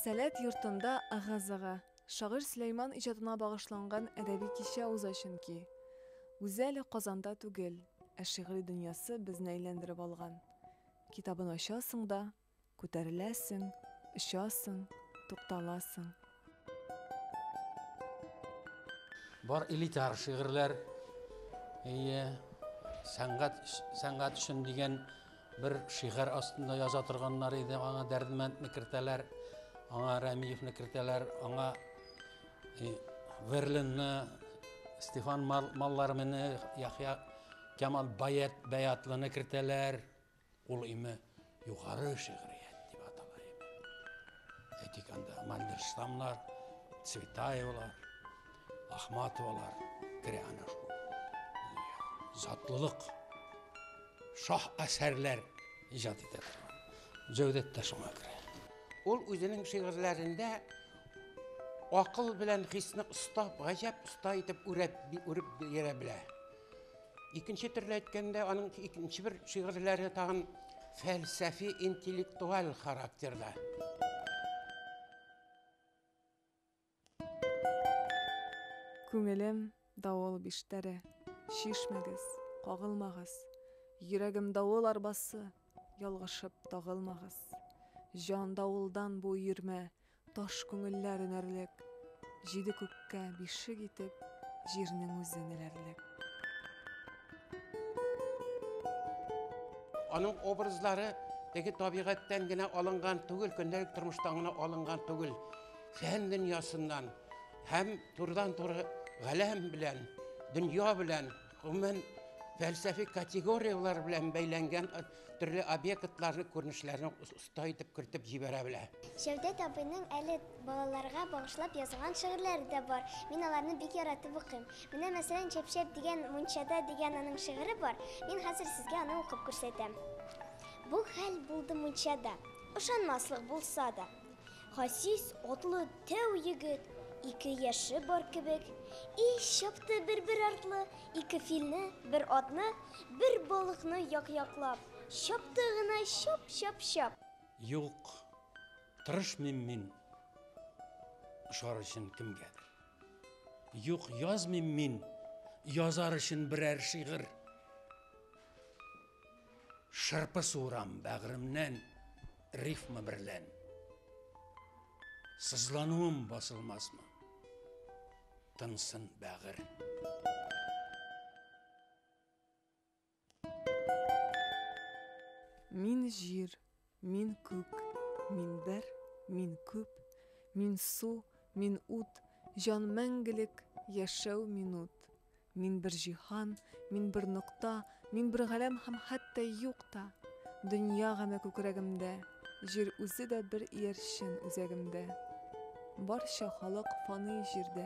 Сәләт йортында ыгы-зыгы. Шагыйрь Сөләйман иҗатына багышланган әдәби кичә уза Чөнки үзе әле Казанда түгел, ә шигъри дөньясы безне әйләндереп алган. Китабын ачасың да. Күтәреләсең, очасың, тукталасың. Бар элитар шигырьләр. Әйе, сәнгать, сәнгать өчен дигән бер шигырь астында яза торганнар иде. Аңа Дәрдмәндне кертәләр, аңа Рәмиевне кертәләр, аңа э, Верлинны, Стефан Маллармины, Яхья Кемал Баят, Баятлыны кертәләр. Ул име югары шигърият дип атала иде. Әйтик анда Мандельштамнар, Цветаевлар, Ахматовалар керә ана шул. Затлылык, шах әсәрләр иҗат итә торган. Җәүдәт тә шуңа керә. Ул үзенең шигырьләрендә акыл белән хисне оста, гаҗәп оста итеп үрәп, үреп бирә белә. Икенче төрле әйткәндә, аның икенче бер шигырьләре тагын фәлсәфи интеллектуаль характерда. Күңелем давыл биштәре, чишмәгез, кагылмагыз, Йөрәгем давыл арбасы, ялгышып тагылмагыз. Җан давылдан бу өермә, Таш күңелләр өнәрлек. Җиде күккә бишек итеп Җирнең үзен эләрлек. Аның образлары теге табигатьтән генә алынган түгел, көндәлек тормыштан гына алынган түгел. Фән дөньясыннан һәм турыдан-туры галәм белән, дөнья белән, гомумән, фәлсәфи категорияләр белән бәйләнгән төрле объектларны, күренешләрне Тай итеп кертеп җибәрә белә. Җәүдәт абыйның әле балаларга багышлап язган шигырьләре дә бар. Мин аларны бик яратып укыйм. Менә, мәсәлән, Чәпчәп дигән мунчада дигән аның шигыре бар. Мин хәзер сезгә аны укып күрсәтәм. Бу хәл булды мунчада. Ышанмаслык булса да. Хасис атлы тәү егет, Ике яше бар кебек. И чапты бер-бер артлы Ике филне, бер атны, Бер балыкны як-яклап. Чапты гына чап чап чап. Юк, тырышмыйм мин ошар өчен кемгәдер. Юк, язмыйм мин язар өчен берәр шигырь. Шырпы суырам бәгыремнән рифма берлән. Сызлануым басылмасмы? Тынсын бәгырь. Мин җир, мин күк, мин бер, мин күп, мин су, мин ут, җан мәңгелек, яшәү минут. Мин бер җиһан, мин бер нокта, мин бер галәм һәм хәтта юк та. Дөнья гаме күкрәгемдә, җир үзе дә бер иярчен үзәгемдә. Барча халык фаный җирдә.